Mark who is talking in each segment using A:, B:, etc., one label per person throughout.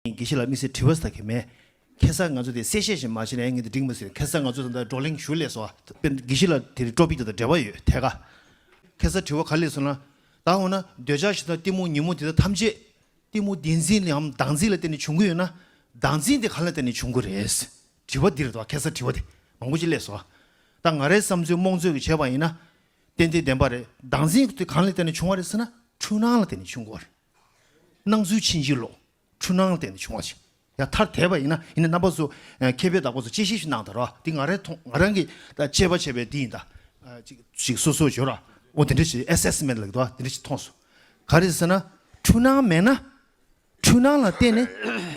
A: དགེ་བཤེས་ལགས་དམིགས་བསལ་དྲི་བ་ཟ་གི་མེད། ཁྱད་བསད་ང་ཚོ་དེ་གསལ་བཤད་བཞིན་མ་བྱས་ན་ཡང་ངེད་དུ་འགྲིག་མི་སྲིད། ཁྱད་བསད་ང་ཚོ་ད་ལྟ་བགྲོ་གླེང་ཞུ་ལས་སོ། དཔེར་ན་དགེ་བཤེས་ལགས་དེ་རིང་ཀྲོ་པི་དེ་དང་འབྲེལ་བ་ཡོད་ཐད་ཀ། ཁྱད་བསད་དྲི་བ་ག་ལས་སོང་ན། ད་འོ་ན་འདོད་ཆགས་ཞེ་སྡང་གཏི་མུག་ཉིན་མོ་དེ་དག་ཐམས་ཅད། གཏི་མུག་བདེན་འཛིན་ལམ་བདག་འཛིན་ལ་བརྟེན་ནས་བྱུང་གི་ཡོད་ན། བདག་འཛིན་དེ་གང་ལ་བརྟེན་ནས་བྱུང་གི་རེད། དྲི་བ་འདི་རེད་དོ་ཁྱད་བསད་དྲི་བ་དེ་མང་པོ་ཅིག་ལས་སོ། ད་ང་རའི་བསམ་ཚུལ་རྨོངས་ཚོད་ཀྱི་བྱས་པ་ཡིན་ན། ཏན་ཏན་བདེན་པ་རེད་བདག་འཛིན་དེ་གང་ལ་བརྟེན་ནས་བྱུང་བ་རེད་ཟེར་ན་འཁྲུལ་སྣང་ལ་བརྟེན་ནས་བྱུང་གི་བ་རེད། སྣང་ཚུལ་ཕྱིན་ཅི་ལོག་འཁྲུལ་སྣང་ལ་བརྟེན་ནས་བྱུང་བ་ཞིག་ཡང་ཐར་དད་པ་ཡིན་ན་ཡིན་ན་རྣམ་པ་སོ་མཁས་པས་དག་པ་སོ་དཔྱད་ཤེས་ཤིག་གནང་དང་ར་བ་འདི་ང་རང་མཐོང་ང་རང་གིས་དཔྱད་པ་བྱས་པའི་འདི་ཡིན་ད། ཞིག་སོ་སོར་བྱོས་ར་བ་འདི་འདྲ་ཞིག Assessment ལ་གི་དོ་བ་འདི་འདྲ་ཞིག་མཐོང་སོ། ག་རེ་ཟེར་ན་འཁྲུལ་སྣང་མེད་ན་འཁྲུལ་སྣང་ལ་བརྟེན་ནས་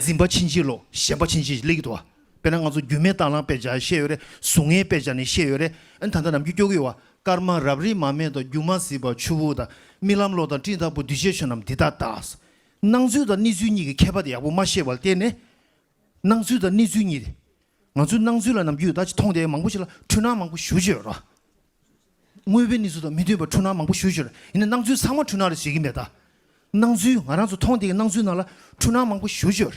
A: འཛིན་པ་ཕྱིན་ཅི་ལོག་ཞེན་པ་ཕྱིན་ཅི་ལེགས་ཀྱི་དོ་བ། དཔེར་ན་ང་ཚོ་རྒྱུས་མེད་དྭངས་བླངས་དཔེ་ཆ་བཤད་ཡོད་རེད་གཟུགས་ངན་དཔེ་ཆ་ནས་བཤད་ཡོད་རེད་ད་ལྟ་ནམ་རྒྱུན་སྐྱོ་གི་ཡོད་བ་སྐར་མ་རབ་རིབ་མ་མེ་དང་རྒྱུ་མ་ཟིལ་བ་ཆུ་བོ་དང་རྨི་ལམ་གློག་དང་སྤྲིན་དང་པོ་འདུས་བྱས་ཆོས་རྣམས་འདི་ལྟ་ལྟ། སྣང་ཚུལ་དང་གནས་ཚུལ་གཉིས་ཀྱི་ཁྱད་པར་དེ་ཡག་པོ་མ་ཤེས་པ་ལ་བརྟེན་ནས། སྣང་ཚུལ་དང་གནས་ཚུལ་གཉིས་ཏེ། ང་ཚོས་སྣང་ཚུལ་ལ་ནམ་རྒྱུན་ད་ཅི་མཐོང་དེ་མང་པོ་ཞིག་ལ་འཁྲུལ་སྣང་མང་པོ་ཞུ་བྱེད་ཡོད་རེད། དངོས་པོའི་གནས་ཚུལ་དང་མི་མཐུན་པར་འཁྲུལ་སྣང་མང་པོ་ཞུ་ཞོར་ཡིན་ན་སྣང་ཚུལ་ཚང་མ་འཁྲུལ་སྣང་རེད་ཟེར་གྱི་མེད་ད། སྣང་ཚུལ་ང་རང་ཚོ་མཐོང་བསྡད་ཀྱི་སྣང་ཚུལ་རྣམས་ལ་འཁྲུལ་སྣང་མང་པོ་ཞུ་ཞོར་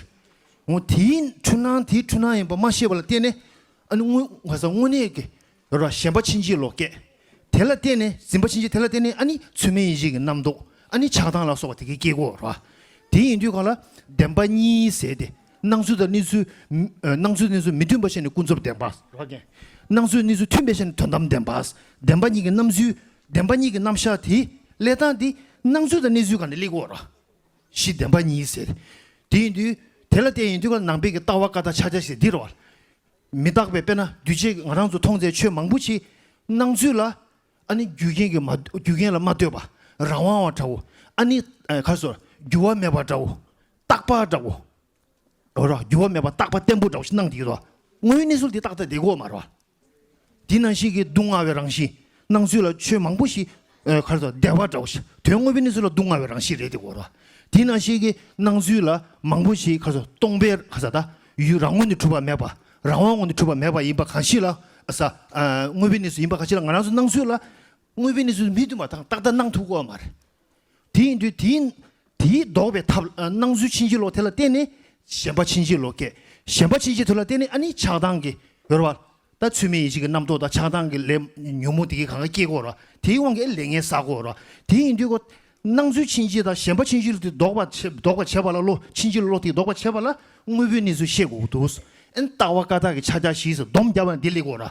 A: ངོ། དེའི་འཁྲུལ་སྣང་དེ་འཁྲུལ་སྣང་ཡིན་པ་མ་ཤེས་པ་ལ་བརྟེན་ནས་ཨ་ནི་དངོས་གནས་ཀྱི་གཞན་པ་ཕྱིན་ཅི་ལོག་སྐྱེ། དེ་ལ་བརྟེན་ནས་འཛིན་པ་ཕྱིན་ཅི་དེ་ལ་བརྟེན་ནས་ཨ་ནི་ཚུལ་མིན་ཡེ་ཤེས་ཀྱི་རྣམ་རྟོག་ཨ་ནི་ཆགས་སྡང་ལ་སོགས་པ་དེ་གའི་སྐྱེ་སྒོ་ར། དེ་ཡིན་དུས་གང་ལ་བདེན་པ་གཉིས་ཟེར་ཏེ་སྣང་ཚུལ་དང་གནས་ཚུལ། སྣང་ཚུལ་གནས་ཚུལ་མི་མཐུན་པ་ཤེས་ནས་ཀུན་རྫོབ་བདེན་པ། སྣང་ཚུལ་གནས་ཚུལ་མཐུན་པས་ཤེས་ནས་དོན་དམ་བདེན་པ། བདེན་པ་གཉིས་ཀྱི་རྣམ་ཚུལ། བདེན་པ་གཉིས་ཀྱི་རྣམ་གཞག་དེ། ལས་དང་དེ། སྣང་ཚུལ་དང་གནས་ཚུལ་གང་དེ་ལེགས་བོར། གཞི་བདེན་པ་ཉིད་ཟེར། དེ་ཡིན་དུས། དེ་ལ་བརྟེན་ཡིན་དུས་ཀ་ནང་པའི་གི་ལྟ་བ་ཀ་དག་ཕྱག་རྒྱ་ཞེས་འདིར་བ། མི་རྟག་པའི་དཔེ་ན་འདུས་བྱས་ཀྱི་ང་རང་ཚོ་མཐོང་ཚད་ཆོས་མང་པོ་མཆིས། སྣང་ཚུལ་ལ། ཨ་ནི་རྒྱུ་རྐྱེན་གྱི་མ། རྒྱུ་རྐྱེན་ལ་མ་ལྟོས་པ། རང་དབང་བ་འདྲ་བོ། ཨ་ནི། ཁ་སོར། འགྱུར་བ་མེད་པ་འདྲ་བོ། རྟག་པ་འདྲ་བོ། འོ་རོ། འགྱུར་བ་མེད་པ་རྟག་པ་བརྟན་པོ་འདྲ་བོ་ཞིག་སྣང་དུ་ཡོད་དོ། སྔོན་གནས་ཚུལ་དེ་རྟག་ཏུ་དེ་གོ་མ་རོ། དེ་ནང་བཞིན་གྱི་སྡུག་བསྔལ་བའི་རང་བཞིན་སྣང་ཚུལ་ལ་ཆོས་མང་པོ་ཞིག་ག་རེ་དང་བདེ་བ་འདྲ་བོ་ཞིག་དོན་དངོས་པོའི་གནས་ཚུལ་ལ་སྡུག་བསྔལ་བའི་རང་བཞིན་རེད་དེ་གོ་རོ། དེ་ནང་བཞིན་གྱི་སྣང་ཚུལ་ལ་མང་པོ་ཞིག་ག་རེ་སྟོང་པའི་ག་ས་ད་ཡུལ་རང་ངོ་ནས་གྲུབ་པ་མེད་པ་རང་དབང་ངོ་ནས་གྲུབ་པ་མེད་པ་ཡིན་པ་གང་ཞིག་ལ་ག་ས་དངོས་པོའི་གནས་ཚུལ་ཡིན་པ་གང་ཞིག་ལ་ང་རང་ཚོའི་སྣང་ཚུལ་ལ་དངོས་པོའི་གནས་ཚུལ་མི་མཐུན་པ་དང་རྟག་ལྟ་སྣང་ཐུག་གོ། མར། དེ་ཡིན་དུས་དེའི། དེའི་ལྡོག་པའི་ཐབས། སྣང་ཚུལ་ཕྱིན་ཅི་ལོག་དེ་ལ་བརྟེན་ནས། ཞེན་པ་ཕྱིན་ཅི་ལོག་སྐྱེ། ཞེན་པ་ཕྱིན་ཅི་དོན་ལ་བརྟེན་ནས་ཨ་ནི་ཆགས་སྡང་གི། ཡོར་བ། ལྟ་ཚུལ་མེ་ཡི་གཅིག་གི་རྣམ་རྟོག་དང་ཆགས་སྡང་གི་ལས། ཉོན་མོངས་དེ་གའི་གང་ག་སྐྱེ་གོ། དེའི་དབང་གིས་ལས་ངན་བསགས་གོ། དེ་ཡིན་དུས། སྣང་ཚུལ་ཕྱིན་ཅི་དང་ཞེན་པ་ཕྱིན་ཅི་ལོག་དེ་ལྡོག་པར་བྱེད། ལྡོག་པར་བྱེད་པ་ལ་བློ་ཕྱིན་ཅི་ལོག་དེ་ལྡོག་པར་བྱེད་པ་ལ། དངོས་པོའི་གནས་ཚུལ་ཤེས་གོ། ཨིན། ལྟ་བ་ཀ་དག་གི་ཕྱག་རྒྱ་བཞིས་སྡོམ་བརྒྱ་བ་ནི་བདེ་ལེགས་གོ།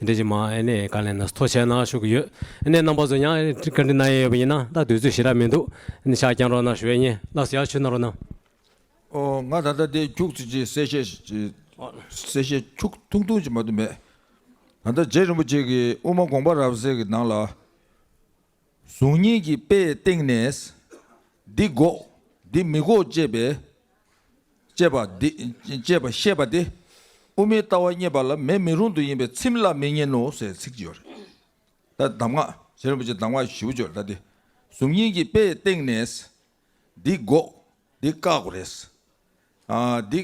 B: འདི་ཕྱི་མ་ཨེ་ནས་ག་ལས་ན་ཟཐོ་བྱས་ན་ཤུགས་ཡོད་ཨེ་ནས་རྣམ་པ་ཟུ་ཉང་ཨེ་ཀ་འདི་ན་ཡེ་ཡོད་པ་ཡིན་ན་ད་དུས་ཚོད་ཞི་ར་མི་འདུག་ཨེ་ནས་ཤག་ཀྱང་རོགས་ན་ཞུ་ཨེ་ཉེ་ལགས་སུ་ཡག་ཆུ་ན་རོགས་ན། ཨོ་ང་
C: ད་ལྟ་དེ་ཁྱུག་ཚིག་ཅིག་གསལ་བཤད་གསལ་བཤད་ཁྱུག་ཐུང་ཐུང་ཅིག་མ་གཏོགས་མེད། ད་ལྟ་རྗེ་རིན་པོ་ཆེ་གིས་དབུ་མ་དགོངས་པ་རབ་གསལ་གྱི་ནང་ལ། གཟུགས་བརྙན་གྱི་དཔེའི་སྟེང་ནས། འདི་འགོག་འདི་མི་འགོག་ཅེས་པའི། ཅེས་པ་འདི། ཅེས་པ་བཤད་པ་སྟེ། དབུ་མའི་ལྟ་བ་རྙེད་པ་ལ་མེད་མི་རུང་དུ་ཡིན་པས་ཚིམ་བརླག་མི་ཉན་ནོ་ཟེར་ཚིག་ཅིག་ཡོད་རེད། ད་གདམས་ངག། གཞན་རིན་པོ་ཆེ་གདམས་ངག་བཞི་བོ་བརྗོད་ལ་ད་དེ། གཟུགས་བརྙན་གྱི་དཔེའི་སྟེང་ནས། འདི་དགོས། འདི་བཀག་དགོས་རེད། འདི་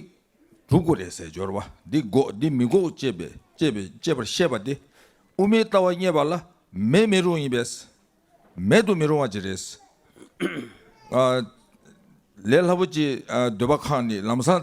C: སྒྲུབ་དགོས་རེད་ཟེར་སྦྱོར་བ། འདི་དགོས་འདི་མི་དགོས་ཅེས་པའི་དཔྱད་པར་བཤད་པ་སྟེ། དབུ་མའི་ལྟ་བ་རྙེད་པ་ལ་མེད་མི་རུང་ཡིན་པས། མེད་དུ་མི་རུང་བ་ཅིག་རེད། ལས་སླ་པོ་ཅིག་འདོད་པ་ཁག་ནི་ལམ་སང་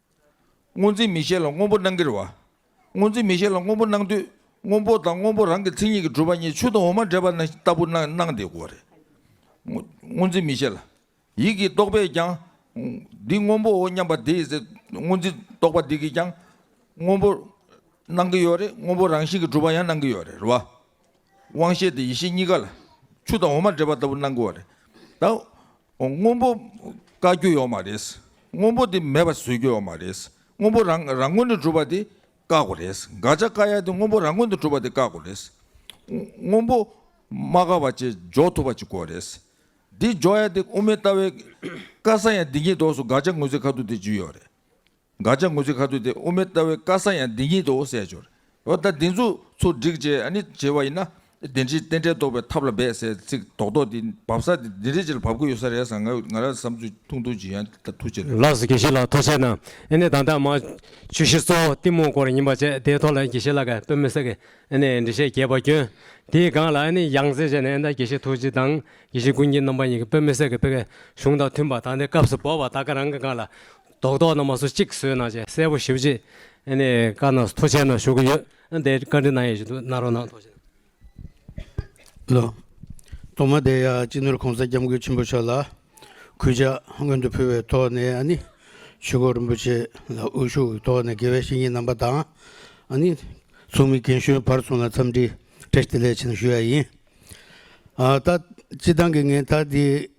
C: སྔོ་འཛིན་མི་ཤེས་ལ་སྔོ་འབོ་སྣང་གིར་བ། སྔོ་འཛིན་མི་ཤེས་ལ་སྔོ་འབོ་སྣང་དུས་སྔོ་འབོ་དང་སྔོ་འབོ་རང་གི་མཚན་ཉིད་ཀྱིས་གྲུབ་པ་གཉིས་ཆུ་དང་འོ་མ་འདྲེས་པ་ན་ལྟ་བུར་སྣང་སྟེ་གོ་རེ། སྔོ་འཛིན་མི་ཤེས་ལ། ཡིད་ཀྱིས་རྟོགས་པས་ཀྱང། འདི་སྔོ་འབོའོ་སྙམ་པ་དེ་ཚེ་སྔོ་འཛིན་རྟོགས་པ་འདི་གིས་ཀྱང། སྔོ་འབོ། སྣང་གི་ཡོད་རེ་སྔོ་འབོ་རང་བཞིན་གྱིས་གྲུབ་པ་ཡང་སྣང་གི་ཡོད་རེ་བ། དབང་ཤེས་དང་ཡེ་ཤེས་གཉིས་ཀ་ལ། ཆུ་དང་འོ་མ་འདྲེས་པ་ལྟ་བུ་སྣང་དགོས་པ་རེད། ད་སྔོན་པོ་བཀའ་རྒྱུ་ཡོག་མ་རེད། སྔོན་པོ་དེ་མེད་པ་བཟོས་རྒྱུ་ཡོག་མ་རེད། སྔོན་པོ་རང་རང་ངོས་ནས་གྲུབ་པ་དེ་བཀག་གོ་རེད། དགག་བྱ་བཀག་ཡ་དེ་སྔོན་པོ་རང་ངོས་ནས་གྲུབ་པ་དེ་བཀག་གོ་རེད། སྔོན་པོ་མ་བཀག་པ་བཅས་འཇོག་ཐུབ་པ་ཅིག་གོ་རེད། དེ་འཇོག་ཡ་དེ་དབུ་མའི་ལྟ་བའི་བཀའ་གསང་ཡ་འདི་ཉིད་དོགས་སུ་དགག་བྱ་ངོས་ཟིན་ཁ་ཐུག་དེ་འཇུས་ཡོག་རེད། དགག་བྱ་ངོས་ཚིག་ཁ་ཚུད་དེ་དབུ་མའི་ལྟ་བའི་བཀའ་གསང་ཡང་འདི་ཉིད་དོ་ཟེར་ཞོར། འོ་ད་འདི་ཚོ་ཚོ་བསྒྲིགས་བྱས་ནི་བྱས་པ་ཡིན་ན། བདེན་བཞིའི་རྟེན་འབྲེལ་རྟོགས་པའི་ཐབས་ལ་འབད་ཟེར་ཚིག་རྡོག་རྡོག་འདི་འབབ་ས་དེ་འདི་འདྲའི་ཆེར་འབབ་དགོས་ཡོད་ས་རེད་བསམ་ང་རང་བསམ་ཚུལ་ཐུང་ཐུང་ཅིག་ཡང་ད་ཐུག་བྱས་ལ། ལགས་སོ་དགེ་བཤེས་ལགས་ཐུགས་
B: ཆེ་གནང། ཨེ་ནས་ད་ད་མ། ཆུ་བཞི་གཙོ་བོ་གཏི་མུག་སྐོར་ཡིན་པ་བཅས་དེའི་ཐོག་ལ་དགེ་བཤེས་ལགས་ཀྱི་པོད་མི་ཟེར་གི་ཨེ་ནས་འབྲི་བཤད་རྒྱས་པ་སྐྱོན། དེའི་སྒང་ལ་ཨེ་ནས་ཡང་རྩེ་བྱས་ནས་ཨེ་ད་དགེ་བཤེས་ཐུགས་རྗེ་དང་དགེ་བཤེས་ཀུན་མཁྱེན་རྣམ་པ་གཉིས་ཀྱི་པོད་མི་ཟེར་གི་པོད་ཀྱི་གཞུང་དང་མཐུན་པ་ད་ནས་སྐབས་སུ་བབ་བ་ད་ག་རང་གི་སྒང་ལ་རྡོག་རྡོག་ནང་མ་སོ་གཅིག་བཟོས་གནང་བྱས་གསལ་པོ་ཞིབ་རྗེས་ནས་བཀའ་ནང་ཐོ་ཆེན་ནང་ཞུ་གི་ཡོད་ཨ་འདས་བཀའ་འདྲི་གནང་ཡས་ཞུ་འདུག་གནང་རོགས་གནང་ཐོ་
D: ཆེན། ལོ། ཐོག་མ་དེ་ཡང་སྤྱི་ནོར་གོང་ས་སྐྱབས་མགོན་ཆེན་པོ་མཆོག་ལ་གུས་ཕྱག་སྔོན་དུ་ཕུལ་བའི་ཐོག་ནས་ཨ་ནི་ཆོས་འཁོར་རིན་པོ་ཆེ་ལ་དབུ་བཞུགས་ཀྱི་ཐོག་ནས་དགེ་བའི་བཤེས་གཉེན་རྣམ་པ་དང་ཨ་ནི་ཚོགས་མི་རྒན་གཞོན་བར་གསུམ་ལ་འཚམས་འདྲི་བཀྲ་ཤིས་བདེ་ལེགས་ཆེན་པོ་ཞུ་ཡ་ཡིན། ད་སྤྱི་བཏང་གི་ངས་ད་དེ་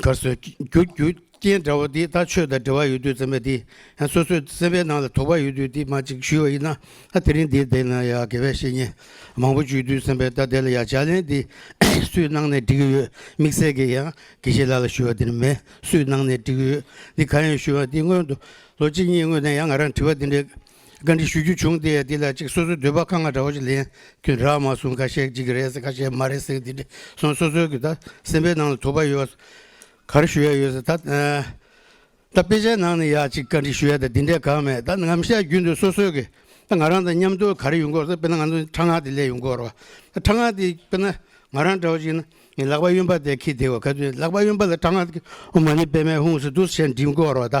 D: གར་སོས་རྒྱུ་རྒྱུ་རྐྱེན་འདྲ་བོ་དེ་དག་ཆོས་དང་འབྲེལ་བ་ཡོད་དུས་ཙམ་པས་དེ་ཡང་སོ་སོའི་སེམས་པའི་ནང་ལ་དོགས་པ་ཡོད་དུས་དེ་མ་ཅིག་ཞུས་བ་ཡིན་ན་དེ་རིང་འདིའི་སྟེང་ན་ཡང་དགེ་བའི་བཤེས་གཉེན་མང་པོ་བཅུད་དུས་ཙམ་པས་ད་དེ་ལ་ཡང་ཕྱག་ལེན་དེ་སུས་གནང་ནས་འགྲིག་གི་ཡོད་དམིགས་བསལ་གྱི་ཡང་དགེ་བཤེས་ལ་ལ་ཞུས་བ་དེ་ནི་མེད་སུས་གནང་ནས་འགྲིག་གི་ཡོད་འདི་གང་ཡིན་ཞུས་བ་དེ་སྔོན་དུ་ལོ་གཅིག་གཉིས་སྔོན་ནས་ཡང་ང་རང་དྲི་བ་དེ་འདྲའི་བཀའ་འདྲི་ཞུ་རྒྱུ་བྱུང་སྟེ་འདི་ལ་ཅིག་སོ་སོའི་འདོད་པ་ཁ་ང་འདྲ་བ་ཅིག་ལེན་རྒྱུ་འདྲ་མ་གསུངས་ཁ་ཤས་ཅིག་གི་རེད་ཟེར་ཁ་ཤས་མ་རེད་ཟེར་གི་འདི་འདྲ་སོང་སོ་སོའི་གི་ད་སེམས་པའི་ནང་ལ་དོགས་པ་ཡོད་གར་ཞུ་ཡ་ཡོད་ཟེར་ད་ད་དཔེ་ཆའི་ནང་ནས་ཡ་ཅིག་བཀའ་འདྲི་ཞུ་ཡ་ད་འདི་འདྲས་གང་མེད་ད་ངམ་ཤ་རྒྱུད་འདི་སོ་སོའི་གི་ད་ང་རང་དང་མཉམ་སྡོད་གར་ཡོད་འགོ་ཟེར་དཔེར་ན་ང་ཚོ་ཁྲ་ངག་དེ་ལས་ཡོད་འགོ་རོ་ད་ཁྲ་ངག་དེ་དཔེར་ན་ང་རང་འདྲ་བ་ཅིག་ཡིན་ན་ངའི་ལག་པ་གཡོན་པ་དེ་ཁྱི་དེ་བ་ག་དུས་ལག་པ་གཡོན་པ་ལ་ཁྲ་ངག་དེ་ཨོ་མ་ནི་དཔེ་མའི་ཧུང་སི་ཏུ་ཞེས་འབྲི་འགོ་རོ་ད།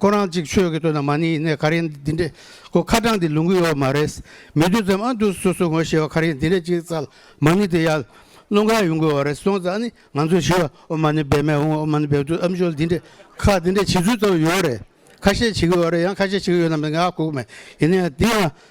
D: ཁོ་རང་ཅིག་ཆོས་ཀྱི་དོན་དང་མ་ནི་ཡིན་ནའི་ག་རེ་འདི་འདྲས་ཁོ་ཁ་དྲང་འདི་ལུང་གི་ཡོད་མ་རེད། མི་བདུན་ཙམ་ཨ་འདུག་སོ་སོ་ངོ་ཤེས་བ་ག་རེ་འདི་འདྲས་ཅིག་ཙལ་མ་ནི་དེ་ཡར་ཀླུང་གར་ཡོང་དགོས་བ་རེད་སོང་ཙང་ནི་ང་ཚོས་ཤི་བ་ཨོ་མ་ནི་སྦེད་མས་འོང་ཨོ་མ་ནི་སྦེད་དུས་ཨམ་ཆོལ་འདི་འདྲས་ཁ་འདི་འདྲས་བྱེད་ཚུལ་ལྟ་བུ་ཡོད་རེད། ཁ་ཤས་བྱེད་གི་ཡོད་རེད་ཡང་ཁ་ཤས་བྱེད་གི་ཡོད་ནམ་ང་ལ་གོ་གི་མེད་ཡིན་ནའི་དེ་ཡང་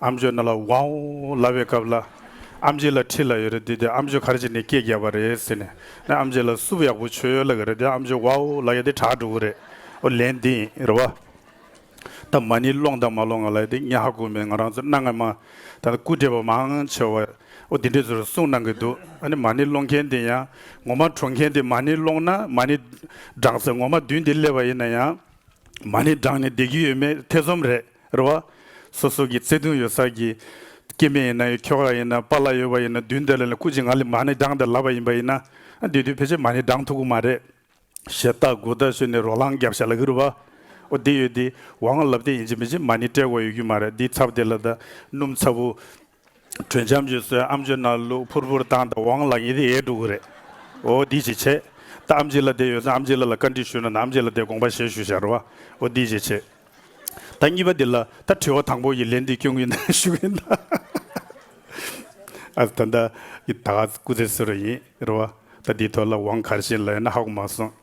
E: ཨམ་ཆོས་ནི་ལ་ཝའོ་ལ་བའི་སྐབས་ལ་ཨམ་ཆི་ལ་ཁྲི་ལ་ཡོད་རེད་དེ་དེ་ཨམ་ཆོས་གར་བྱེད་ནས་སྐད་རྒྱབ་པ་རེད་ཟེར་ནས་ནས་ཨམ་ཆི་ལ་སུབ་ཡག་པོ་ཆོས་ཡོད་ལ་གི་རེད་དེ་ཨམ་ཆོས་ཝའོ་ལ་ཡོད་དེ་གྲགས་འགྲོ་གི་རེད་ཨོ་ལན་དེ་ཡིན་རེད་བ། ད་མ་ནི་སློང་དང་མ་སློང་ང་ལ་ཡོད་དེ་ཉག་ཧ་གོ་མེད་ང་རང་ཚོ་གནའ་སྔ་མ་ད་ནི་སྐུ་བགྲེས་པ་མང་ཆེ་བ་ཨོ་དེ་འདྲས་ཚོར་གསུངས་གནང་གི་འདུག་ཨ་ནི་མ་ནི་སློང་མཁན་དེ་ཡང་ངོ་མ་གྲོངས་མཁན་དེ་མ་ནི་སློང་ན་མ་ནི་བགྲང་ཟེར་ངོ་མ་བདུན་དེ་སླེབས་པ་ཡིན་ན་ཡང་མ་ནི་བགྲང་ནས་བསྡད་ཀྱི་ཡོད་མེད་ཐེ་ཚོམ་རེད། རེད་བ། སོ་སོ་གི་བརྩེ་དུང་ཡོད་ས་གི། སྐྱེས་དམན་ཡིན་ན་ཡོད་ཁྱོ་ག་ཡིན་ན་པ་ལ་ཡོད་བ་ཡིན་ན་དུས་འདི་ལ་ལ་ཁུ་ཅི་ང་ལི་མ་ནི་འགྲངས་དེ་ལབ་བ་ཡིན་པ་ཡིན་ན། དུས་དུས་ཕལ་ཆེར་མ་ནི་འགྲངས་ཐུག་གི་མ་རེད། ཞེ་ལྟ་དགུ་ལྟ་ཤོས་ནི་རོ་ལངས་རྒྱབ་ཤ་ལ་གི་རུ་བ། འོ་དེ་ཡོད་དེ། བ་ང་ལབ་དེ་ཡིན་ཅི་མིན་ཅི་མ་ནི་སྤྲད་གོ་ཡོད་ཀྱི་མ་རེད་དེའི་ཚབ་དེ་ལ་ད། སྣུམ་ཚ་བུ། དྲུང་འཇམ་རྒྱུད་བསོད་ཨམ་ཆོས་རྣམས་ལུགས་ཕུར་བུར་བཏང་དང་བང་ལག་ཉི་ཟླའི་ཡས་དྲུག་གི་རེད། འོ་འདི་ཅི་བྱེད། ད་ཨམ་ཅི་ལ་དེ་ཡོད་ཚེ་ཨམ་ཅི་ལ་ལ་བཀའ་འདྲི་ཞུས་ན་ནི་ཨམ་ཅི་ལ་དེ་དགོངས་པ་བཞེས་ཞུ་ཞར་བ། འོ་འདི་ཅི་བྱེད། ད་གཉིས་པ་འདི་ལ་ད་དྲི་བ་དང་པོ་ཡི་ལན་འདི་སྐྱོན་གྱི་ན་ཞུ་གི་ན། ཨ་ད་ད་ཀྱི་ད་ག་སྐུ་ཚེ་སུ་ར་ཡིན་ར་བ། ད་འདི་ཐོས་ལ་བང་གར་བཞིན་ལ་ཡོད་ན་ཧ་གོ་མ་སོང།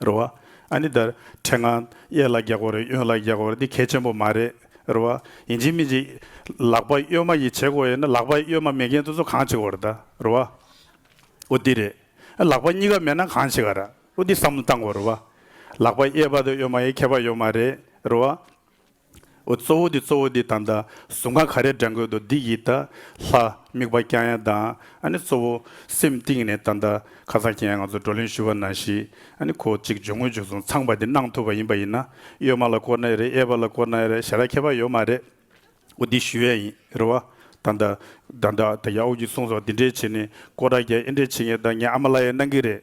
E: རེད། རེད། ཨ་ནི་དར་ཁྲལ་ང་གཡས་ལ་རྒྱག་གོ་རེད་གཡོན་ལ་རྒྱག་གོ་རེད་འདི་གལ་ཆེན་པོ་མ་རེད། རེད། ཡིན་གཅིག་མིན་གཅིག་ལག་པ་གཡོན་མ་ཡིས་བྱེད་གོ་ཡིན་ན་ལག་པ་གཡོན་མ་མེད་མཁན་དུ་ཚོ་གང་བྱེད་གོ་རེད་ད། རེད། འོ་འདི་རེད། ལག་པ་གཉིས་ཀ་མེད་ན་གང་བྱེད་ག་ར། འོ་འདི་བསམ་བློ་བཏང་གོ་རེད། ལག་པ་གཡས་པ་དང་གཡོན་མ་ཡི་ཁྱད་པར་ཡོད་མ་རེད། རེད། འོ་གཙོ་བོ་འདི་གཙོ་བོ་འདི་དང་དང་གཟུགས་འགའ་ག་རེ་འདྲ་འགོད་དོ་འདི་ཡིད་དང། ལྷ། དམིགས་པ་རྐྱང་ཡན་དང་ཨ་ནི་གཙོ་བོ། སེམས་གཏིང་ནས་དང་དང་ཁ་སང་ཁྱེད་ང་ཚོ་བགྲོ་གླེང་ཞུ་བ་ནང་ཞིག་ཨ་ནི་གོ་གཅིག་འཇུག་ངོ་འཇུག་སོང་ཚངས་པ་འདི་གནང་ཐུབ་པ་ཡིན་པ་ཡིན་ན་གཡོད་མ་ལ་བསྐོར་ན་ཡ་རེད་གཡས་པ་ལ་བསྐོར་ན་ཡ་རེད་ཞེ་ར་ཁྱད་པ་ཡོད་མ་རེད། འོ་འདི་ཞུ་ཡ་ཡིན་རེད་བ། དང་དང། དང་དང་ད་ཡ་འོ་རྒྱུ་གསུངས་སོང་འདི་འདྲའི་བྱེད་ནི་ཀོ་ར་རྒྱལ་ཨེ་འདྲའི་བྱེད་ངེས་དང་ངས་ཨ་མ་ལ་ཡ་གནང་གི་རེད།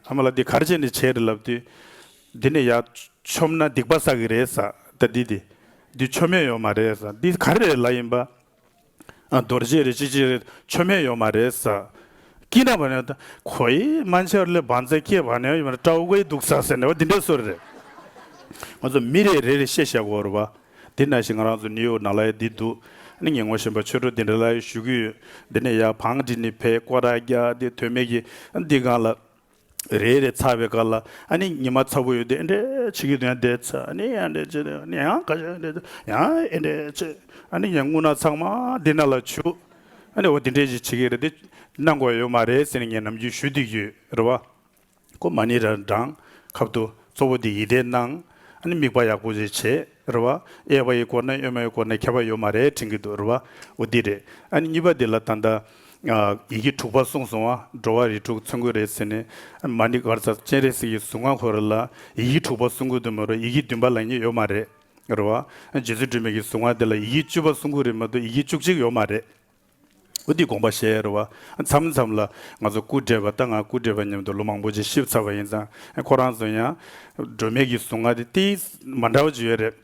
E: ཨ་མ་ལ་འདི་གར་བྱེད་ནི་བྱེད་རེད་ལབ་དུས། འདི་ནས་ཡར་ཆོམ་ན་སྡིག་པ་བསགས་ཀྱི་རེད་ས་ད་འདི་དེ་དུས་ཆོ་མེད་ཡོད་མ་རེད་ས་འདི་ག་རེ་ལ་ཡིན་པ་རྡོ་རྗེ་རེད་ཅི་ཅི་རེད་ཆོ་མེད་ཡོད་མ་རེད་ས་ཀྱི་ན་བ་ན་ད་ཁོ་ཡི་སྨན་ཆར་ལས་བང་རྩལ་སྐྱེས་བ་ན་ཡོད་མ་རེད་སྤྲ་བོ་དགའི་སྡུག་ས་ཟེར་ན་བ་འདི་འདྲ་སོ་རེད་ང་ཚོ་མི་རེ་རེ་རེ་ཤེས་བཞག་གོ་རེད་བ་འདི་ན་ཞིག་ང་རང་ཚོ་ནིའུ་ཡོག་ན་ལ་ཡ་འདི་འདུག་ནི་ངས་ངོ་ཤེས་པ་ཆོས་འཕྲོ་འདི་འདྲ་ལ་ཡ་ཞུ་གི་ཡོད་འདི་ནས་ཡར་བང་འདི་ནི་བས་ཀོ་ར་རྒྱ་འདི་དོན་མེད་ཀྱི་འདི་གང་ལ། རེད་རེད་ཚ་བའི་སྐར་ལ་ཨ་ནི་ཉི་མ་ཚ་བོ་ཡོད་དེ་འདྲེ་ཆི་གི་དོན་དེ་ཚ་ཨ་ནི་ཡང་འདྲེ་ཆི་དེ་ཨ་ནི་ཡང་ཁ་ཤ་འདྲེ་ཚ་ཡང་ཨེ་འདྲེ་ཆི་ཨ་ནི་ཡང་སྔུན་ན་ཚང་མ་འདི་ན་ལ་བྱུག་ཨ་ནི་འོ་དེ་འདྲེ་ཆི་ཆི་གི་རེད་དེ་གནང་དགོས་ཡོད་མ་རེད་ཟེར་ནས་ངས་ནམ་རྒྱུན་ཞུ་དུས་ཀྱི་རེ་བ་ཁོ་མ་ནི་ར་འདྲང་ཁབ་ཏུ་གཙོ་བོ་དེ་ཡིད་བདེ་གནང་ཨ་ནི་མིག་པ་ཡག་པོ་ཞིག་བྱེད། རེད་བ། གཡས་པ་ཡི་སྐོར་ནས་གཡོན་མ་ཡི་སྐོར་ནས་ཁྱབ་པ་ཡོད་མ་རེད་དྲན་གི་འདུག་རེད་བ། འོ་འདི་རེད། ཨ་ནི་གཉིས་པ་འདི་ལ་ད་ལྟ། ཡི་གེ་དྲུག་པ་གསུངས་སོང་བ་འགྲོ་བ་རིགས་དྲུག་ཚུན་དགོས་རེད་ཟེར་ནས། མ་ནི་སྒར་ཚ་སྤྱན་རས་གཟིགས་ཀྱི་གཟུངས་སྔགས་འཁོར་རེ་ལ་ཡི་གེ་དྲུག་པ་གསུང་དགོས་དོན་མི་རུང་ཡི་གེ་བདུན་པ་ལ་ནི་ཡོད་མ་རེད། རེད་བ། རྗེ་བཙུན་སྒྲོལ་མེད་ཀྱི་གཟུངས་སྔགས་འདི་ལ་ཡི་གེ་བཅུ་པ་གསུང་དགོས་རེད་མི་འདུག་ཡི་གེ་བཅུ་གཅིག་ཡོད་མ་རེད། འོ་འདི་དགོངས་པ་བཞེས་ཡ་རེད་བ། མཚམས་མཚམས་ལ། ང་ཚོ་སྐུ་བགྲེས་པ་ལྟ་ང་སྐུ་བགྲེས་པ་མཉམ་དུ་ལོ་མང་པོ་ཅིག་གཤིབ་ཚར་བ་ཡིན་ཙང་ཁོ་རང་ཚོ་ཡང། སྒྲོལ་མེད་ཀྱི་གཟུངས་སྔགས་དེ་ཏིའི། མ་འདྲ་བ་ཅིག་ཡོད་རེད།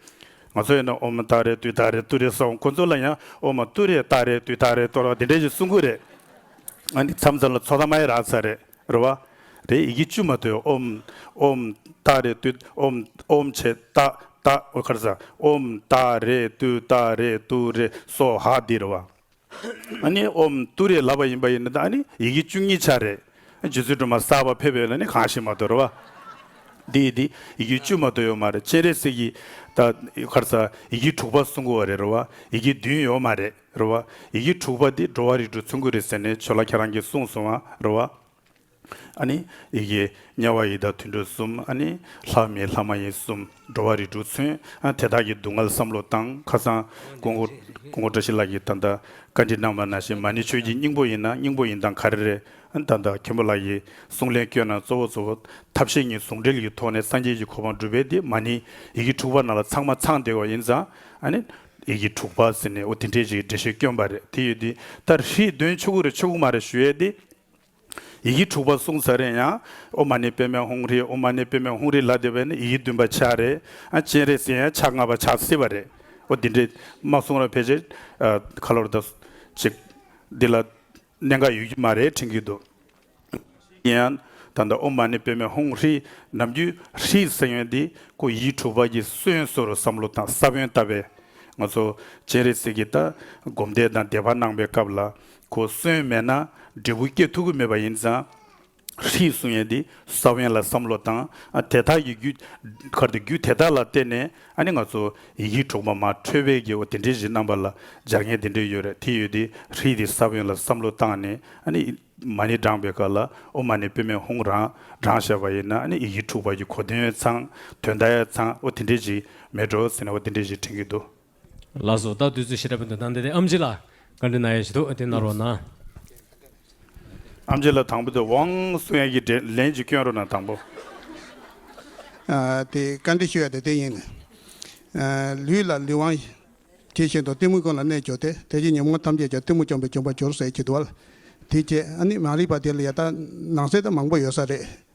E: ང་ཚོ་ཡིན་ན་ཨོ་མ་ཏཱ་རེ་ཏུའི་ཏཱ་རེ་ཏུ་རེ་སོགས་ཁོ་ཚོ་ལ་ཡང་ཨོ་མ་ཏུ་རེ་ཏཱ་རེ་ཏུའི་ཏཱ་རེ་ཏོ་རོགས་དེ་འདྲས་ཅིག་གསུང་དགོས་རེད། ང་འདི་མཚམས་མཚམས་ལ་ཚོགས་ཐ་མ་ཡི་རགས་ཚར་རེད། རེ་བ། རེ་ཡི་གེ་བཅུ་མ་དོའི་ཨོམ། ཨོམ། ཏཱ་རེ་ཏུད་ཨོམ། ཨོམ་ཆེ་ཏཱ། ཏཱ། ཨོ་ཀར་ཟ། ཨོམ། ཏཱ་རེ་ཏུ་ཏཱ་རེ་ཏུ་རེ་སོ་ཧ་འདི་རེ་བ། ཨ་ནི་ཨོམ། ཏུ་རེ་ལབ་པ་ཡིན་པ་ཡིན་ན་ད་ཨ་ནི་ཡི་གེ་བཅུ་གཉིས་ཆ་རེད། རྗེ་བཙུན་སྒྲོལ་མ་གསར་བ་ཕེབས་ཡོད་ལ་ནི་གང་ཞིག་མ་དོ་རེ་བ། འདི་ཡི་འདི་ཡི་གེ་བཅུ་མ་དོ་ཡོད་མ་རེད་སྤྱན་རས་གཟིགས་ཀྱི་ཏཱ། ཨོ་ཀར་ཟ། ཡི་གེ་དྲུག་པ་སྲུང་འཁོར་བ་རེད་རེ་བ། ཡི་གེ་བདུན་ཡོད་མ་རེད། རེད་བ། ཡི་གེ་དྲུག་པ་འདི་འགྲོ་བ་རིགས་དྲུག་ཚུན་སྐུད་རེད་ཟེར་ནས་ཆོལ་ལ་ཁྱེད་རང་གིས་གསུངས་སོང་བ་རེད་བ། ཨ་ནི། ཡི་གེ། དམྱལ་བ་ཡི་དྭགས་དུད་འགྲོ་གསུམ་ཨ་ནི། ལྷ་མི་ལྷ་མ་ཡིན་གསུམ་འགྲོ་བ་རིགས་དྲུག་ཚུན་ཨ་དེ་དག་གི་སྡུག་བསྔལ་བསམ་བློ་བཏང་ཁ་སང། ཀོང་ཀོ། ཀོང་ཀོ་བཀྲ་ཤིས་ལགས་ཀྱིས་ད་ལྟ། བཀའ་འདྲི་གནང་བ་ན་ཞེ་མ་ནི་ཆོས་ཀྱི་སྙིང་པོ་ཡིན་ན་སྙིང་པོ་ཡིན་དང་ག་རེ་རེད། ད་ལྟ་མཁན་པོ་ལགས་ཀྱིས་གསུངས་ལན་བསྐྱོན་ན་གཙོ་བོ་གཙོ་བོ། ཐབས་ཤེས་གཉིས་ཟུང་འབྲེལ་གྱི་ཐོག་ནས་སངས་རྒྱས་ཀྱི་གོ་འཕང་སྒྲུབ་པའི་དེ་མ་ནི། ཡི་གེ་དྲུག་པ་ན་ལ་ཚང་མ་ཚང་བསྡད་བ་ཡིན་ཙང། ཨ་ནི། ཡིག་གི་དྲུག་པ་ཟེར་ནས་འོ་དེ་འདྲའི་ཞིག་འགྲེལ་བཤད་སྐྱོན་པ་རེད་དེ་ཡོད་དེ་ད་ཧྲིལ་དོན་ཆུ་ཁུག་རེ་ཆུ་ཁུག་མ་རེ་ཞུ་ཡས་དེ། ཡིག་གི་དྲུག་པ་གསུང་ཟ་རེན་ཡང་ཨོ་མ་ནི་པད་མའི་ཧུང་རི་ཨོ་མ་ནི་པད་མའི་ཧུང་རི་ལ་དེ་བས་ན་ཡིག་གི་བདུན་པ་ཆག་རེ་ཨ་ཅན་རེ་ཟེར་ཡང་ཆག་ལྔ་པ་ཆག་སྲིད་པ་རེད་འོ་དེ་འདྲའི་མ་གསུང་ར་ཕལ་ཆེར་ཨ་ཁ་ལོར་ད་ཅིག་འདི་ལ། གནད་འགག་ཡོད་ཀྱི་མ་རེད་དྲན་གྱི་འདུག་ཡིན་ཡང་ད་ལྟ་ཨོ་མ་ནི་པེ་མེ་ཧུང་ཧྲི་ནམ་རྒྱུན་ཧྲི་ཟེར་ཡོན་འདི་ཁོ་ཡིད་འཁྲུག་བར་གྱི་སྲོལ་ཡོན་སྲོལ་རུ་བསམ་བློ་དང་ས་བོན་བཏབ་པས་ང་ཚོ་སྤྱན་རས་གཟིགས་ཀྱི་ད་སྒོམ་བཟླས་དང་བཟླས་པ་གནང་པའི་སྐབས་ལ་ཁོ་གསོན་མེད་ན་འབྲས་བུ་སྐྱེ་ཐུབ་ཀྱི་མེད་པ་ཡིན་ཙང། ཧྲིལ་གསུང་ཡན་དེ་ས་བོན་ལ་བསམ་བློ་བཏང། དེ་དག་གི་རྒྱུད། གར་དེ་རྒྱུད་དེ་དག་ལ་བརྟེན་ནས་ཨ་ནི་ང་ཚོ་ཡི་གེའི་གྲོགས་པོ་མ་ཁྲོས་པའི་རྒྱལ་བོ་དེ་འདྲའི་གཞི་རྣམ་པ་ལ་སྦྱར་མཁན་དེ་འདྲས་ཡོད་རེད་དེ་ཡོད་དེ་ཧྲིལ་དེ་ས་བོན་ལ་བསམ་བློ་བཏང་ནས་ཨ་ནི་མ་ནི་བགྲངས་པའི་སྐབས་ལ་ཨོ་མ་ནི་པུས་མེད་ཧུང་རང་བགྲངས་བྱས་པ་ཡིན་ན་ཨ་ནི་ཡི་གེ་འཁྲུགས་པ་ཀྱི་གོ་དོན་ཚང་དོན་ད་ཡ་ཚང་ཨོ་དེ་འདྲས་ཅིག་མེད་འགྲོ་ཟེར་ནས་ཨོ་དེ་འདྲས་ཅིག་དྲན་གྱི་འདུག། ལ་སོགས་
B: བདག་བདུད་རྩི་ཤེས་རབ་འདོད་ན་འདི་སྟེ་ཨམ་ཆི་ལ་བཀའ་དྲིན་ན་ཡེ་ཤེས་ཐུགས་དེ་ན་རོ་ན། ཨམ་
E: ཆི་ལ་དང་པོ་དེ་ཝང་སུ་ཡན་གྱི་འདྲེ་ལན་གྱི་སྐྱོན་རོ་ན་དང་པོ།
D: དེ་བཀའ་དྲིན་ཞུ་ཡ་དེ་དེ་ཡིན་ནི། ལུས་ལ་ལུས་དབང། དེ་བཞིན་དུ་གཏི་མུག་ཀུན་ལ་རྣལ་འབྱོར་ཏེ་དེ་བཞིན་ཉོན་མོངས་ཐམས་ཅད་ཀྱང་གཏི་མུག་བཅོམ་པས་བཅོམ་པ་སྦྱོར་བསལ་གྱི་དུ་བ་ལ་དེ་སྐྱེ། ཨ་ནི་མ་རིག་པ་དེ་ལ་ཡ་ད་ནང་གསལ་དུ་མང་པོ་ཡོད་ས་རེད།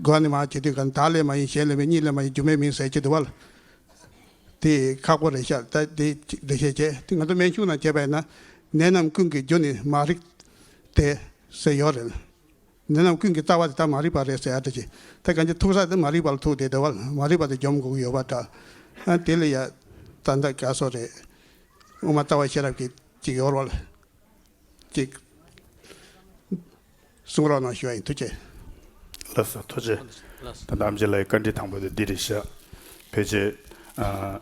D: དགོས་ནི་མ་བྱས་དུས་ཀྱང་དག་ལས་མ་ཡིན་གཞན་ལས་མེད་གཉིས་ལས་མ་ཡིན་སྒྱུ་མའི་མིང་གསལ་བྱེད་དུ་བ་ལ། དེ་ཡི་ཁག་པོ་རེ་ཤར་ལྟ་དེ་འགྲེལ་བཤད་བྱས་དེ་ང་ཚོ་མན་ཞུགས་ནང་བྱས་པས་ན་ནད་རྣམས་ཀུན་གྱི་རྒྱུ་ནི་མ་རིག་སྟེ། ཟེར་ཡོད་རེད། ནད་རྣམས་ཀུན་གྱི་རྩ་བ་དེ་དག་མ་རིག་པ་རེད་ཟེར་ཡ་འདྲ་ཅི་ད་གང་ཅི་ཐུག་ས་དེ་མ་རིག་པ་ལ་ཐུག་དེ་དེ་བ་ལ་མ་རིག་པ་དེ་འཇོམས་དགོས་ཀྱི་ཡོད་པ་འདྲ། ཨ་དེ་ལས་ཡ་ད་འདའ་དཀའ་སོ་རེད། དབུ་མ་ལྟ་བ་ཤེས་རབ་ཀྱི་ཅིག་ཡོར་བ་ལ། ཅིག། གསུང་རོགས་གནང་ཞུ་བ་ཡིན་ཐུགས་རྗེ། ལགས་སོ་
E: ཐུགས་རྗེ། ད་ལྟ་ཨམ་ཅི་ལགས་ཀྱི་བཀའ་འདྲི་དང་པོ་དེ་འདི་རེད་ཤག། བོད་ཆས།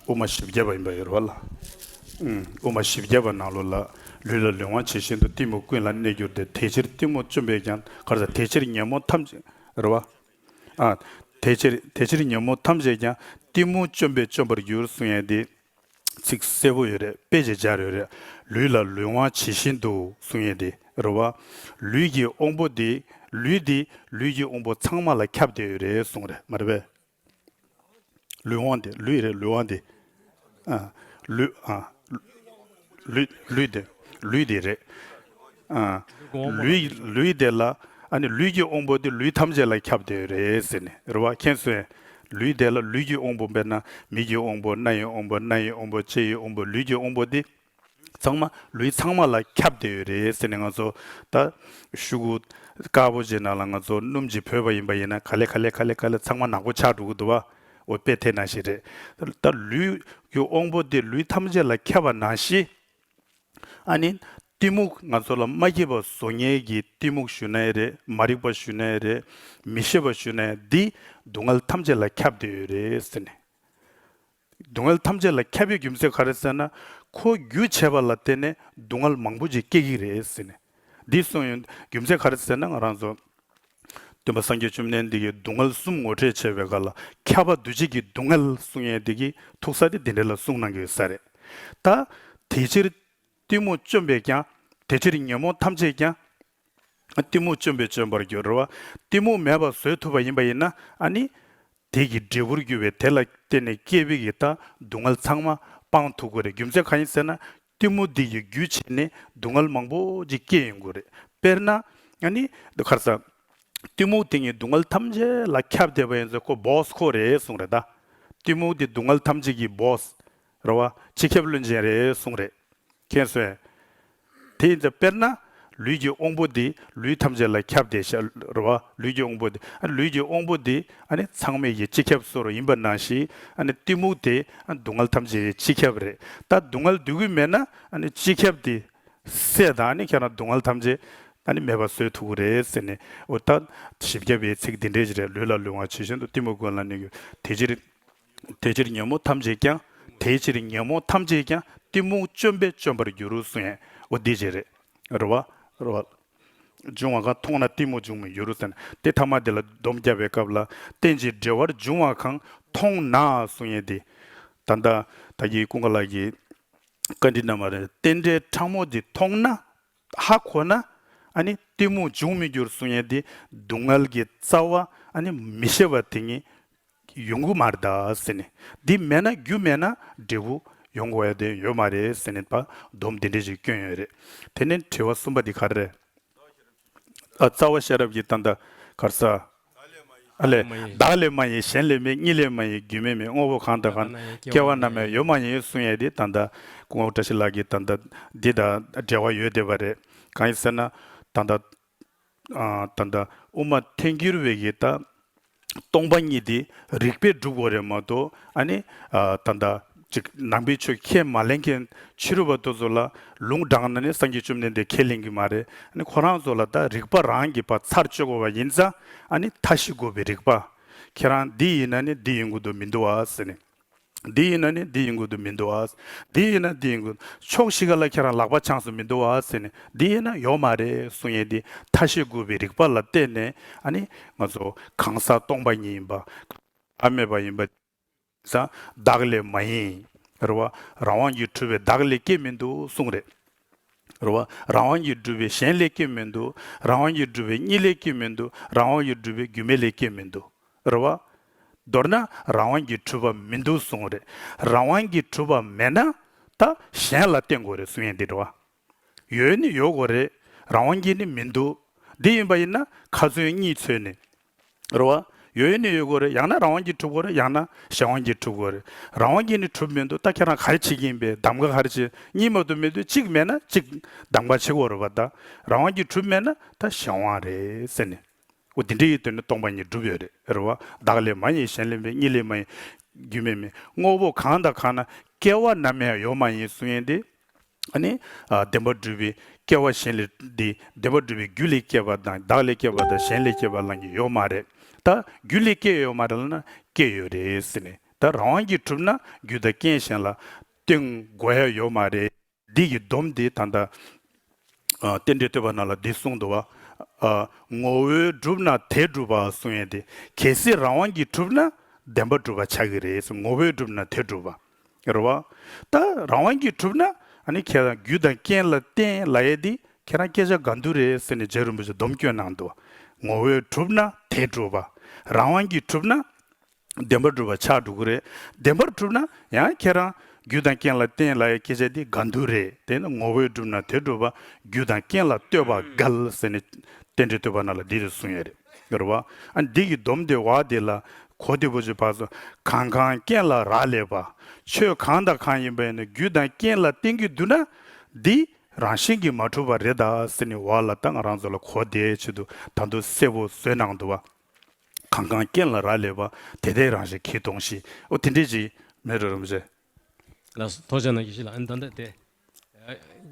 E: དབུ་མ་བཞི་བརྒྱ་པ་ཡིན་པ་ཡོད་རེད་བ་ལགས། དབུ་མ་བཞི་བརྒྱ་པ་ནང་ལོ་ལ་ལུས་ལ་ལུས་དབང་བྱེད་བཞིན་དུ་གཏི་མུག་ཀུན་ལ་གནས་བསྒྱུར་ཏེ་དེ་ཕྱིར་གཏི་མུག་བཅོམ་པས་ཀྱང་གར་ཟ་དེ་ཕྱིར་ཉོན་མོངས་ཐམས། རེད་བ། དེ་ཕྱིར་ཉོན་མོངས་ཐམས་ཅད་ཀྱང་གཏི་མུག་བཅོམ་པས་བཅོམ་པར་འགྱུར་གསུང་ཡན་དེ། ཚིག་གསལ་པོ་ཡོད་རེད་དཔེ་ཅིག་སྦྱར་ཡོད་རེད་ལུས་ལ་ལུས་དབང་ཇི་བཞིན་དུ་གསུང་ཡས་འདི་རུ་བ། ལུས་ཀྱི་དབང་པོ་འདི་ལུས་འདི་ལུས་ཀྱི་དབང་པོ་ཚང་མ་ལ་ཁྱབ་བསྡད་ཡོད་རེད་གསུང་རེད་མ་རེད་པས། ལུས་དབང་འདི་ལུས་རེད་ལུས་དབང་འདི། ལུས། ལུས། ལུས་དེ། ལུས་དེ་རེད། ལུས། ལུས་དེ་ལ། ལུས་ཀྱི་དབང་པོ་དེ་ལུས་ཐམས་ཅད་ལ་ཁྱབ་དེ་རེད་ཟེར་ནས་རེད་བ་མཁྱེན་གསོན། ལུས་དེ་ལ་ལུས་ཀྱི་དབང་པོ་དཔེར་ན་མིག་གི་དབང་པོ་སྣ་ཡི་དབང་པོ་སྣ་ཡི་དབང་པོ་ལྕེ་ཡི་དབང་པོ་ལུས་ཀྱི་དབང་པོ་དེ། ཚང་མ་ལུས་ཚང་མ་ལ་ཁྱབ་དེ་ཡོད་རེད་ཟེར་ནས་ང་ཚོ་ད། ཤུག་གུ། དཀར་པོ་ཅིག་ནང་ལ་ང་ཚོ་སྣུམ་གྱིས་བོས་པ་ཡིན་པ་ཡིན་ན་ག་ལེ་ག་ལེ་ག་ལེ་ག་ལེ་ཚང་མ་ནག་པོ་ཆགས་འགྲོ་གི་འདུག་བ། འོད་དཔལ་དེ་ན་ཞེས་རེད། ད་ལུས། ཀྱི་དབང་པོ་འདི་ལུས་ཐམས་ཅད་ལ་ཁྱབ་པ་ན་ཞི། ཨ་ནི། གཏི་མུག་ང་ཚོ་ལ་མ་སྐྱེས་པ་བཟོ་ཉལ་གྱི་གཏི་མུག་ཞུ་ནའི་རེད་མ་རིག་པ་ཞུ་ནའི་རེད་མི་ཤེས་པ་ཞུ་ནའི་འདི། སྡུག་བསྔལ་ཐམས་ཅད་ལ་ཁྱབ་བསྡད་ཡོད་རེད་ཟེར་ནས། སྡུག་བསྔལ་ཐམས་ཅད་ལ་ཁྱབ་ཡོད་རྒྱུ་མཚན་ག་རེ་ཟེར་ན། ཁོ་རྒྱུ་བྱས་པ་ལ་བརྟེན་ནས་སྡུག་བསྔལ་མང་པོ་ཅིག་སྐྱེ་གི་རེད་ཟེར་ནས། འདི་གསུངས་ཡོད། རྒྱུ་མཚན་ག་རེ་ཟེར་ན་ང་རང་ཚོ། སྟོན་པ་སངས་རྒྱས་བཅོམ་ལྡན་འདས་ཀྱི་སྡུག་བསྔལ་གསུམ་ངོ་སྤྲད་བྱས་པའི་ག་ལ་ཁྱབ་པ་འདུ་བྱེད་ཀྱི་སྡུག་བསྔལ་གསུངས་ཡས་དེ་གི་ཐུག་ས་དེ་འདི་འདྲེ་ལ་གསུངས་གནང་གི་ཡོད་ས་རེད་ད། དེ་ཕྱིར། གཏི་མུག་བཅོམ་པས་ཀྱང། དེ་ཕྱིར་ཉོན་མོངས་ཐམས་ཅད་ཀྱང། གཏི་མུག་བཅོམ་པས་བཅོམ་པར་འགྱུར་བ། གཏི་མུག་མེད་པར་བཟོད་ཐུབ་པ་ཡིན་པ་ཡིན་ན་ཨ་ནི། དེ་གི་འབྲས་བུར་གྱུར་པའི་དེ་ལ་བརྟེན་ནས་སྐྱེས་བུ་གི་ད་སྡུག་བསྔལ་ཚང་མ་སྤང་ཐུག་གོ་རེད་རྒྱུ་མཚན་ག་ཡིན་ཟེར་ན། གཏི་མུག་འདི་ཡི་རྒྱུ་བྱས་ནས་སྡུག་བསྔལ་མང་པོ་ཅིག་སྐྱེ་ཡོང་གི་རེད། དཔེར་ན། ཡང་ནི། འདི་ཁར་ས། གཏི་མུག་དེ་ཉིད་སྡུག་བསྔལ་ཐམས་ཅད་ལ་ཁྱབ་བསྡད་པ་ཡིན་ཚོད་ཁོ་བོས་ཁོ་རེ་གསུངས་རེད་ད། གཏི་མུག་འདི་སྡུག་བསྔལ་ཐམས་ཅད་ཀྱི་བོས། རེད་བ། སྤྱི་ཁྱབ་བློན་ཆེན་རེ་གསུངས་རེད། མཁྱེན་གསོན། དེ་ཡིན་ཚོད་དཔེར་ན། ལུས་ཀྱི་དབང་པོ་འདི་ལུས་ཐམས་ཅད་ལ་ཁྱབ་སྟེ་ཤ་ར་བ་ལུས་ཀྱི་དབང་པོ་སྟེ་ལུས་ཀྱི་དབང་པོ་འདི་ཚང་མེད་ཀྱི་སྤྱི་ཁྱབ་སོ་རུ་ཡིན་པ་ནང་བཞིན་གཏི་མུག་དེ་སྡུག་བསྔལ་ཐམས་ཅད་ཀྱི་སྤྱི་ཁྱབ་རེད་ད་སྡུག་བསྔལ་འདུས་གུས་མེད་ན་སྤྱི་ཁྱབ་དེ་སྲས་དང་ཁྱེད་རང་སྡུག་བསྔལ་ཐམས་ཅད་མེད་པ་བཟོས་ཐུག་གི་རེད་ཟེར་ནས་འུ་ཐ་བཞི་བརྒྱ་པའི་ཚིག་འདི་འདྲས་ཀྱིས་རེད་ལུས་ལ་ལུས་དབང་ཇི་བཞིན་དུ་གཏི་མུག་མགོན་ལ་གནས་གྱུར་དེ་ཕྱིར། དེ་ཕྱིར་ཉོན་མོངས་ཐམས་ཅད་ཀྱང། དེའི་ཕྱིར་ཉོན་མོངས་ཐམས་ཅད་ཀྱང་གཏི་མུག་བཅོམ་པས་བཅོམ་པར་འགྱུར་གསུང་ཡས་འོ་འདི་ཅི་རེད། རེ་བ། འབྱུང་བ་གང་མཐོང་ན་གཏི་མུག་འབྱུང་མི་འགྱུར་རོ་ཟེར། དེ་ཐ་མ་དེ་ལ་སྡོམ་བརྒྱབ་པའི་སྐབས་ལ་རྟེན་ཅིང་འབྲེལ་བར་འབྱུང་བ་གང་མཐོང་ན་གསུང་ཡས་འདི། ད་ལྟ་བདག་གིས་ཀུན་དགའ་ལགས་ཀྱི་བཀའ་འདྲི་རྣམས་ལ་རྟེན་འབྲེལ་ཕྲ་མོ་འདི་མཐོང་ན་ཧ་གོ་ན་ནི་གཏི་མུག་འབྱུང་མི་འགྱུར་གསུང་ཡས་འདི་སྡུག་བསྔལ་གྱི་རྩ་བ་ནི་མི་ཤེས་པ་དེ་ཉིད་ཡོང་གི་མ་རེད་ད་ཟེར་ནས། འདི་མེད་ན་རྒྱུ་མེད་ན་འབྲས་བུ་ཡོང་གི་འོད་དེ་ཡོད་མ་རེད་ཟེར་ནས་པ་སྡོམ་དེ་འདྲས་ཞིག་བསྐྱོན་ཡོད་རེད། དེ་ནས་དྲི་བ་གསུམ་པ་དེ་ག་རེ་རེད། རྩ་བ་ཤེས་རབ་ཀྱི་ད་ལྟ་གར་ས། བདག་ལས་མ་ཡིན། བདག་ལས་མ་ཡིན་གཞན་ལས་མེད་གཉིས་ལས་མ་ཡིན་རྒྱུ་མེད་མེད་དངོས་པོ་གང་དང་གང་སྐྱེ་བ་ན་མེད་ཡོད་མ་ཡིན་གསུང་ཡས་དེ་ད་ལྟ་སྐུ་ངོ་བཀྲ་ཤིས་ལགས་ཀྱི་ད་ལྟ་འདི་དང་འབྲེལ་བ་ཡོད་བསྡད་པ་རེད་གང་ཡིན་ཟེར་ན་ད་ལྟ། ད་ལྟ་དབུ་མ་ཐལ་འགྱུར་བས་ཀྱི་ད་སྟོང་པ་ཉིད་དེ་རིགས་པས་བསྒྲུབ་བོ་རེད་མ་གཏོགས་ཨ་ནི་ད་ལྟ་ཅིག་ནང་པའི་ཆོས་ཁས་མ་ལེན་མཁན་ཕྱི་རུ་བ་དོ་ཚོ་ལ་ལུང་དྲངས་ན་ནི་སངས་རྒྱས་བཅོམ་ལྡན་འདས་ཁས་ལེན་གི་མ་རེད་ཨ་ནི་ཁོ་རང་ཚོ་ལ་ད་རིགས་པ་རང་གི་བ་ཚར་གཅོད་དགོས་བ་ཡིན་ཙང་ཨ་ནི་མཐའ་བཞི་དགོས་པའི་རིགས་པ་ཁྱེད་རང་འདི་ཡིན་ན་ནི་འདི་ཡིན་དགོས་དོ་མི་འདུག་ཨ་ཟེར་ནས། འདི་ཡིན་ན་ནི་འདི་ཡིན་ཁུལ་དུ་མི་འདུག་ཨ། འདི་ཡིན་ན་འདི་ཡིན་ཁུལ། ཕྱོགས་བཞི་ག་ལ་ཁྱེད་རང་ལག་པ་འཆང་སུ་མི་འདུག་ཨ་ཟེར་ནས་འདི་ཡིན་ན་ཡོག་མ་རེད་གསུང་ཡས་འདི་མཐའ་ཤེས་དགོས་པའི་རིགས་པ་ལ་བལྟས་ནས་ཨ་ནི་ང་ཚོ་གང་ཟག་སྟོང་པ་ཉིད་ཡིན་པ། ཨ་མེད་པ་ཡིན་པ། ཟ། བདག་ལས་མ་ཡིན། རེ་བ། རང་དབང་གིས་འཁྲུལ་བའི་བདག་ལས་སྐྱེ་མི་འདུག་གསུང་རེད། རུ་བ། རང་དབང་གིས་བསྒྲུབས་པའི་གཞན་ལས་སྐྱེས་མི་འདུག་རང་དབང་གིས་བསྒྲུབས་པའི་གཉིས་ལས་སྐྱེས་མི་འདུག་རང་དབང་གིས་བསྒྲུབས་པའི་རྒྱུ་མེད་ལས་སྐྱེས་མི་འདུག་རུ་བ། མདོར་ན་རང་དབང་གིས་གྲུབ་པ་མི་འདུག་གསུང་རེད། རང་དབང་གིས་གྲུབ་པ་མེད་ན་ད་གཞན་ལ་བརྟེན་དགོས་རེད་གསུང་ཡིན་འདི་རུ་བ། ཡོད་ནི་ཡོད་དགོས་རེད་རང་དབང་གིས་ནི་མི་འདུག་འདི་ཡིན་པ་ཡིན་ན་ཁ་ཚོན་གཉིས་འཚོལ་ནི་རེད། རེད། ཡོད་ཡོད་ནི་ཡོད་དགོས་རེད་ཡང་ན་རང་དབང་གིས་གྲུབ་དགོས་རེད་ཡང་ན་གཞན་དབང་གིས་གྲུབ་དགོས་རེད། རང་དབང་གིས་ནི་གྲུབ་མི་འདུག་ད་ཁྱེད་རང་ག་རེ་བྱེད་ཀྱི་ཡིན་པས་གདམ་ག་ག་རེ་བྱེད་གཉིས་མ་དུ་མེད་དུས་གཅིག་མེད་ན་གཅིག་གདམ་ག་བྱེད་དགོས་རེད་པ་ད་རང་དབང་གིས་གྲུབ་མེད་ན་ད་གཞན་དབང་རེད་ཟེར་ནས། འོ་དེ་འདྲ་ཡིན་དོན་ནི་སྟོང་པ་ཉིད་གྲུབ་ཡོད་རེད། རེད། བདག་ལས་མ་ཡིན་གཞན་ལས་མེད་གཉིས་ལས་མ་ཡིན། རྒྱུ་མེད་མེད། དངོས་པོ་གང་དང་གང་ན་སྐྱེ་བ་ནམ་ཡང་ཡོད་མ་ཡིན་གསུང་ཡིན་ཏེ། བདེན་པར་སྒྲུབ་པའི་སྐྱེ་བ་གཞན་ལས་འདི་བདེན་པར་སྒྲུབ་པའི་རྒྱུ་ལས་སྐྱེས་པ་དང་བདག་ལས་སྐྱེས་པ་དང་གཞན་ལས་སྐྱེས་པ་ལ་ནི་ཡོད་མ་རེད་ད། རྒྱུ་ལས་སྐྱེས་ཡོད་མ་རེད་ན་སྐྱེས་ཡོད་རེད་ཟེར་ནས་ད་རང་དབང་གིས་གྲུབ་ན་རྒྱུ་དང་རྐྱེན་གཞན་ལ་བསྟེན་དགོས་ཡ་ཡོད་མ་རེད། འདི་ཡི་སྡོམ་དེ་ད་ལྟ་རྟེན་འབྲེལ་བསྟོད་པ་རྣམས་ལ་འདི་གསུངས་འདུག་བ། ངོ་བོས་གྲུབ་ན་དེས་གྲུབ་པ་གསུངས་ཡོད་དེ་གལ་སྲིད་རང་དབང་གིས་གྲུབ་ན་བདེན་པར་སྒྲུབ་པ་ཆགས་ཀྱི་རེད་ངོ་བོས་གྲུབ་ན་དེས་གྲུབ་པ། རེད་བ། ད་རང་དབང་གིས་གྲུབ་ན་ནི་ཁྱེད་རང་རྒྱུ་དང་རྐྱེན་ལ་བརྟེན་ལ་ཡས་དེ་ཁྱེད་རང་སྐད་ཆ་ག་འདུག་རེད་ཟེར་ནས་རྗེ་རིན་པོ་ཆེ་སྡོམ་བསྐྱོན་གནང་འདུག་ངོ་བོས་གྲུབ་ན་དེ་སྒྲུབ་པ། རང་དབང་གིས་གྲུབ་ན་བདེན་པར་སྒྲུབ་པ་ཆགས་འགྲོ་གི་རེད་བདེན་པར་གྲུབ་ན་ཡང་ཁྱེད་རང་རྒྱུ་དང་རྐྱེན་ལ་བརྟེན་ལ་ཡས་སྐད་ཆ་དེ་ག་འདུག་རེད་དེ་ནི་ངོ་བོས་གྲུབ་ན་དེ་སྒྲུབ་པ་རྒྱུ་དང་རྐྱེན་ལ་ལྟོས་པ་འགལ་ཟེར་ནས་རྟེན་འབྲེལ་ལྟོས་པ་ན་ལ་འདི་རེད་གསུང་ཡས་རེད། འདིར་བ་འདི་ཀྱི་སྡོམ་དེ་བ་འདི་ལ་གོ་དེ་བུ་ཆུ་བ་སོ། གང་གང་རྐྱེན་ལ་རག་ལས་པ། ཆོས་གང་དང་གང་ཡིན་པ་ཡིན་ན་རྒྱུ་དང་རྐྱེན་ལ་བརྟེན་གྱི་བསྡུ་ན། འདི་རང་བཞིན་གྱིས་མ་གྲུབ་པ་རེ་ད་སི་ནི་བ་ལ་ལྟ་ང་རང་ཚོ་ལ་གོ་དེ་ཆེད་དུ་ད་འདུ་སེ་བོ་བཟོས་ནང་དུ་བ། གང་གང་རྐྱེན་ལ་རག་ལས་པ་དེ་དེ་རང་བཞིན་གྱིས་སྟོང་ཞིག་ཨོ་དེ་འདྲས་ཅིག་མེ་རོ་རུ་མི་བྱེད། ལ་སོ་
B: ཐོག་ཅན་ན་གྱི་ཞིག་ལ་ཨ་ནི་ད་འདི་ལྟ་སྟེ།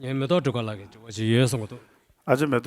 B: ངའི་མེ་ཏོག་སྒྲོལ་དཀར་
E: ལགས་ཀྱིས་
B: འབྲི་བ་ཅིག་ཡོད་གསུང་གི་འདུག། ཨ་ཅེ་མེ་ཏོག།